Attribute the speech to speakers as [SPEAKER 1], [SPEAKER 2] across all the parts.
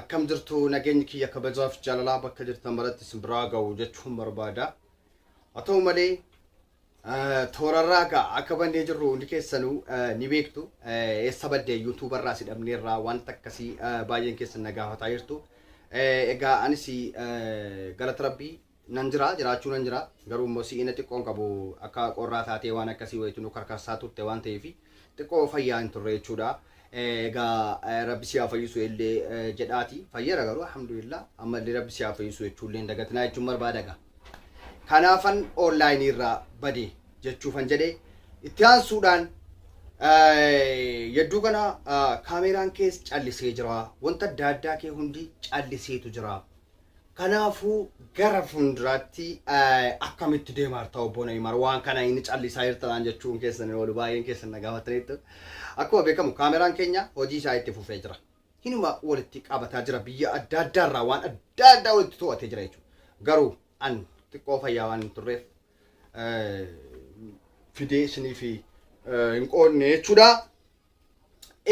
[SPEAKER 1] Akkam jirtu nageenyi kiyya kabajaaf jaalalaa bakka jirtan maratti isin biraa ga'u jechuun barbaada. Haa ta'u malee toorarraa gaa akka bannee jirru hundi keessanuu ni beektu. Eessa badde yuutuubarraa si dhabneerraa wanta akkasii baay'een keessan na gaafataa jirtu. Egaa anis galata rabbii Nan jira, jiraachuu nan jira. Garuu immoo si'ina xiqqoon qabu akka qorraa taatee waan akkasii wayiitu nu karkarsaa turte waan ta'eef xiqqoo fayyaa hin turre jechuudha. Egaa rabbi si haa fayyisu illee jedhaati. Fayyera garuu alhamdulillah amma illee rabbi si haa fayyisu jechuu illee hin dagatinaa jechuun barbaada egaa. Kanaafan online irraa bade jechuufan jedhe. Itti aansuudhaan yedduu kana kaameeraan kees callisee jira. Wanta adda addaa kee hundi calliseetu jira. Kanaafuu gara fuunduraatti akkamitti deemaarta obbo Nayimar waan kana inni callisaa jirta naan jechuun keessan hin oolu baay'een keessan na gaafataniittu. Akkuma beekamu kaameraan keenya hojii isaa itti fufee jira. Hinuma walitti qabataa jira biyya adda addaa irraa waan adda addaa walitti to'atee jira jechuudha. Garuu an xiqqoo fayyaa waan hin turreef fidee isiniif hin qoodne jechuudha.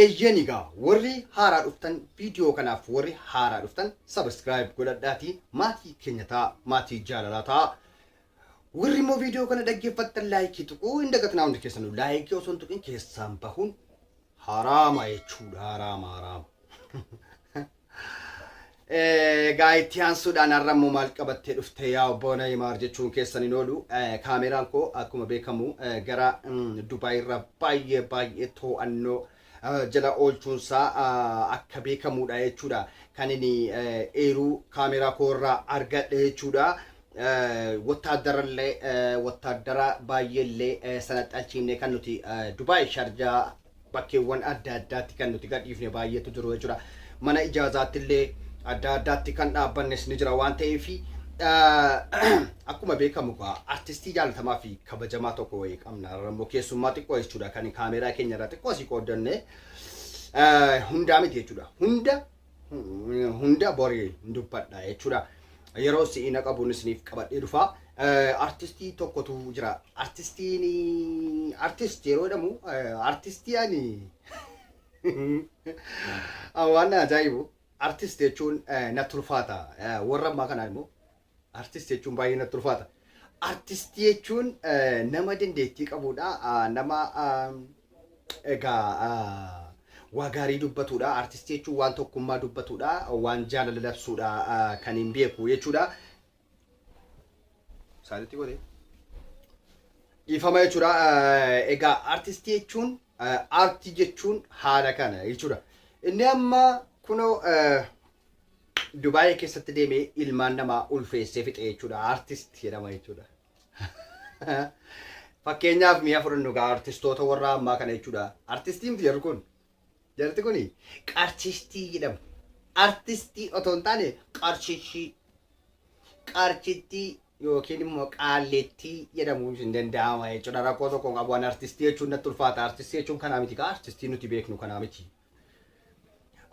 [SPEAKER 1] Eeyyeen egaa warri haaraa dhuftan viidiyoo kanaaf warri haaraa dhuftan subscribe godhadhaatii maatii keenya ta'a maatii jaalalaa ta'a. Warri immoo viidiyoo kana dhaggeeffattan laayikii tuquu hin dagatinaa hundi keessanuu laayikii osoo hin tuqin keessaan bahuun haraama jechuudha haraama haraama. Egaa itti aansuudhaan har'a immoo maal qabattee dhufte yaa obbo Nayimaar jechuun keessan hin oolu. Kaameraan koo akkuma beekamu gara Dubaayirra baay'ee baay'ee to'annoo jala oolchuunsaa akka beekamuudha jechuudha. Kan inni eeruu kaameraa koo irraa argadhe jechuudha. Wotaaddarallee wotaaddaraa baay'eellee sana xalchiifnee kan nuti Dubaay Sharjaa bakkeewwan adda addaatti kan nuti gadhiifne baay'eetu jiru jechuudha. Mana ijaazaatti illee adda addaatti kan dhaabbannes ni jira waan ta'eef akkuma beekamu egaa artistii jaalatamaa fi kabajamaa tokko wayii qabna. Har'a immoo keessummaa xiqqoo jechuudha kan kaameeraa keenya irraa xiqqoo asii qooddanne hundaa miti jechuudha. Hunda hunda bori hin dubbadha jechuudha. Yeroo si'i na qabuun isiniif qabadhee dhufa. Eh, Artistii tokkotu jira. Artistiin artist yeroo jedhamu eh, artistii ani Ah, waan na ajaa'ibu artist jechuun eh, na tulfaata. Eh, Warra ammaa kanaan immoo Artist jechuun baay'ee natti ulfaata. Artist jechuun nama dandeettii qabudha. Nama egaa waa gaarii dubbatudha. Artist jechuun waan tokkummaa dubbatudha. Waan jaalala labsudha kan hin beeku jechuudha. Saalitti godhee. Dhiifama jechuudha. Egaa artist jechuun aartii jechuun haala kana jechuudha. Inni amma kunoo Dubaayii keessatti deemee ilmaan namaa ulfeessee fixee jechuudha. Artist jedhama jechuudha. Fakkeenyaaf mi'a fudhannu gaa artistoota warra ammaa kana jechuudha. Artistii miti jarri kun. Jarti kun qarshistii jedhamu. Artistii otoo hin taane qarshishii. Qarshittii yookiin immoo qaalleettii jedhamuun hin danda'ama jechuudha. Rakkoo tokko qabu an artistii jechuun natti ulfaata. Artistii jechuun kanaa miti gaa artistii nuti beeknu kanaa miti.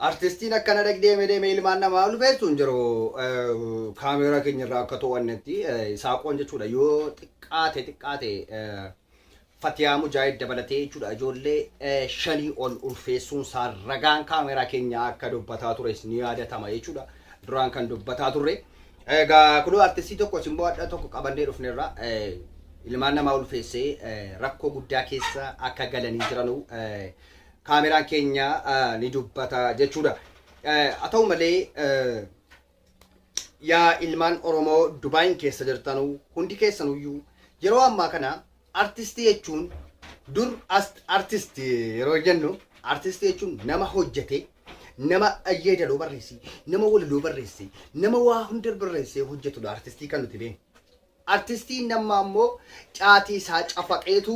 [SPEAKER 1] Artistiin akkana dhaq deeme deeme ilmaan namaa ulfeessu hin jiru. Kaameeraa keenya irraa akka to'annetti saaqoon jechuudha yoo xiqqaate xiqqaate Fatiyaa Mujaahid dabalatee jechuudha ijoollee shanii ol ulfeessuun isaa ragaan kaameeraa keenya akka dubbataa tures ni yaadatama jechuudha. Duraan kan dubbataa turre. Egaa kunoo artistii tokko simboo adda tokko qabannee dhufnerra ilmaan namaa ulfeessee rakkoo guddaa keessa akka galanii jiranuu kaameraan keenya ni dubbata jechuudha. Haa ta'u malee yaa ilmaan Oromoo Dubaayin keessa jirtanu hundi keessanuyyuu yeroo ammaa kana artistii jechuun dur artist yeroo jennu artistii jechuun nama hojjete nama yeedaloo barreesse nama walaloo barreesse nama waa hunda barreessee hojjetudha artistii kan nuti beeknu. Artistiin nammaa immoo caatii isaa cafaqeetu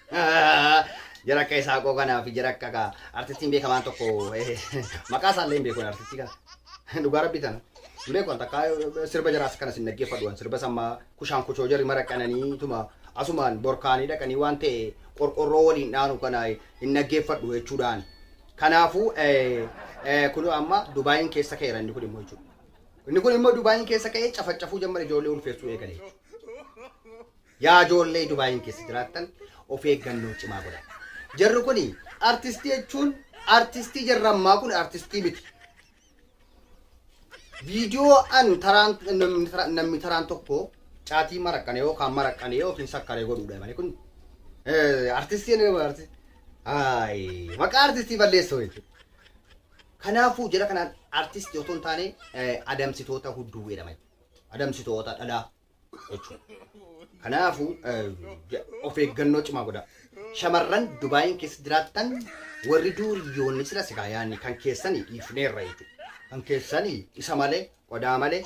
[SPEAKER 1] Jara akka Isaaqoo kanaa fi jara akka akka artistiin beekamaan tokko maqaa isaallee hin beeku artistii kana. Dhugaa rabbi tana. Hin beeku wanta akka sirba jaraas kana sin dhaggeeffadhu waan sirba sammaa kushaan kuchoo jarri mara qananii tuma asumaan borkaanii dhaqanii waan ta'e qorqorroo waliin dhaanu kana hin dhaggeeffadhu jechuudhaan. Kanaafuu kun amma Dubaayiin keessa ka'eera inni kun immoo jechuudha. Inni kun immoo Dubaayiin keessa ka'ee cafacafuu jammara ijoollee ulfeessuu eegale. Yaa ijoollee Dubaayiin keessa jiraattan of eeggannoo cimaa godhaa. Jarri kun artistii jechuun artistii jarri ammaa kun artistii miti. Viidiyoo an taraan namni taraan- namni taraan tokko caatii maraqqane yookaan maraqqane yookiin sakkaree godhuudha malee kun eh, artistii inni nama artistii. Haayi maqaa artistii balleessoo jechuudha. Kanaafuu jara kanaan artistii otoo hin taane eh, adamsitoota hudduu jedhama. Adamsitoota dhalaa. jechuudha. Kanaafuu of eeggannoo cimaa godha. Shamarran Dubaayiin keessa jiraattan warri duuriyyoonni sila sigaa yaanni kan keessanii dhiifneerra jechuudha. Kan keessanii isa malee qodaa malee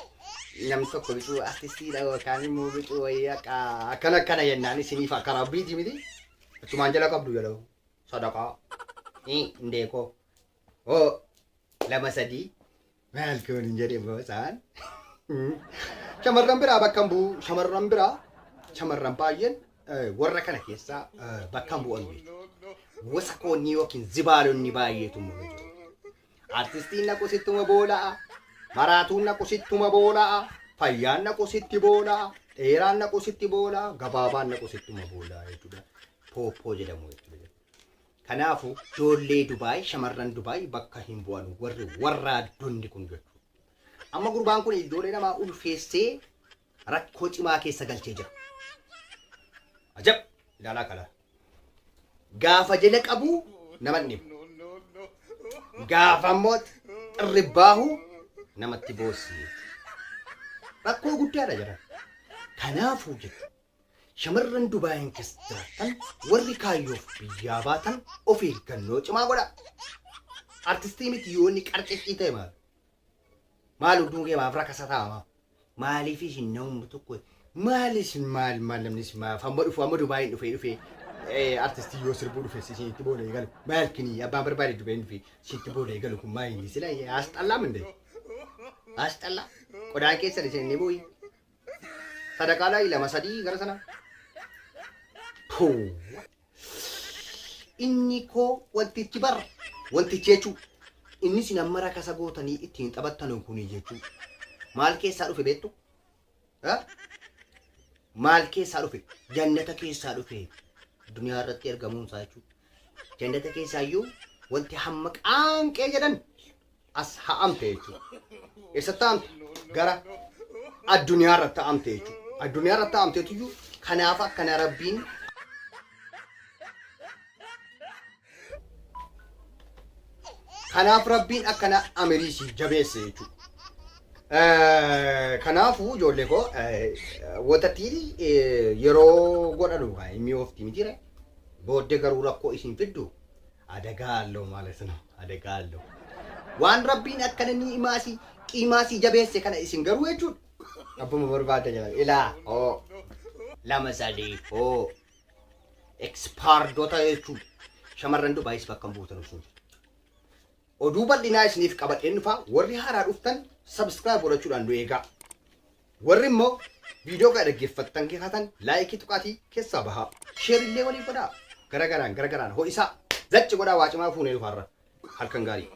[SPEAKER 1] namni tokko bituu artistiidha yookaan immoo bituu wayii akka akkana akkana jennaan isiniif akka rabbiiti miti. Achumaan jala qabdu jala sadaqaa indeekoo hoo lama sadii Maal kun hin jedhe boosaan. Shamarran biraa bakka hin bu'u. Shamarran biraa shamarran baay'een eh, warra kana keessaa eh, bakka hin bu'an beeku. Wasakoonni yookiin zibaalonni baay'eetu mul'atu. Artistiin naqu sittuma boola'a. Maraatuun naqu sittuma boola'a. Fayyaan naqu sitti boola'a. Dheeraan naqu sitti boola'a. Gabaabaan naqu sittuma boola'a jechuudha. Pooppoo jedhamu jechuudha. Kanaafu joollee Dubai shamarran Dubai bakka hin bu'anu warri warraaddonni kun jechuudha. Amma gurbaan kun ijoollee namaa ulfeessee rakkoo cimaa keessa galchee jira. Ajab! Ilaalaa kala. Gaafa jala qabu nama hin dhibu. Gaafa immoo xirribbaahu namatti boossi. Rakkoo guddaadha jira. Kanaafuu jechuudha. Shamarran Dubaayiin keessa jiraattan warri kaayyoof biyyaa baatan of eeggannoo cimaa godhaa. Artistii miti yoo inni qarciccii ta'e maal? Maal hunduu kee maaf rakasa taa'ama? Maaliif isin namni tokko maal isin maal maal namni isin maaf amma dhufu amma Dubaayiin dhufee dhufee eh, artistii yoo sirbuu dhufe isinitti booda eegalu maal kini abbaan barbaade Dubaayiin dhufe isinitti booda eegalu kun maal inni sila asxallaa mindee asxallaa qodaa keessan isin inni bu'ii. Sadaqaa laa ilama sadii gara sana. Puu. Inni koo wantichi bar wantichi jechuu inni sin amma rakasa gootanii ittiin taphattan kuni jechuu maal keessaa dhufe beektu? Ha? Maal keessaa dhufe? Jannata keessaa dhufe duniyaa irratti ergamuun isaa jechuudha. Jannata keessaa iyyuu wanti hamma qaanqee jedhan as ha'amte jechuudha. Eessatti ha'amte? Gara addunyaa irratti ha'amte jechuudha. Addunyaa irratti ha'amteetu iyyuu kanaaf akkana rabbiin kanaaf rabbiin akkana amirii siif jabeesse jechuudha. Eh, Kanaafuu ijoollee koo eh, watattiin eh, yeroo godhanu kan inni oofti mitiire booddee garuu rakkoo isin fiddu Adagaa alloo maalas no adagaa alloo. Waan rabbiin akkana ni'imaa si qiimaa si jabeesse kana isin garuu jechuudha. Abbuma barbaadda jedhan ilaa hoo lama sadii hoo ekspaardota jechuudha. Shamarran Dubaayis bakka hin buutan isin. Oduu bal'inaa isiniif qabadheen dhufa warri haaraa dhuftan subscribe godhachuudhaan nu eegaa. Warri immoo viidiyoo kana dhaggeeffattan taatan laayikii tuqaatii keessaa bahaa. Sheer illee waliif godhaa. Gara garaan gara garaan ho'isaa. Zacci godhaa waa cimaa fuunee dhufaarra. Halkan gaarii.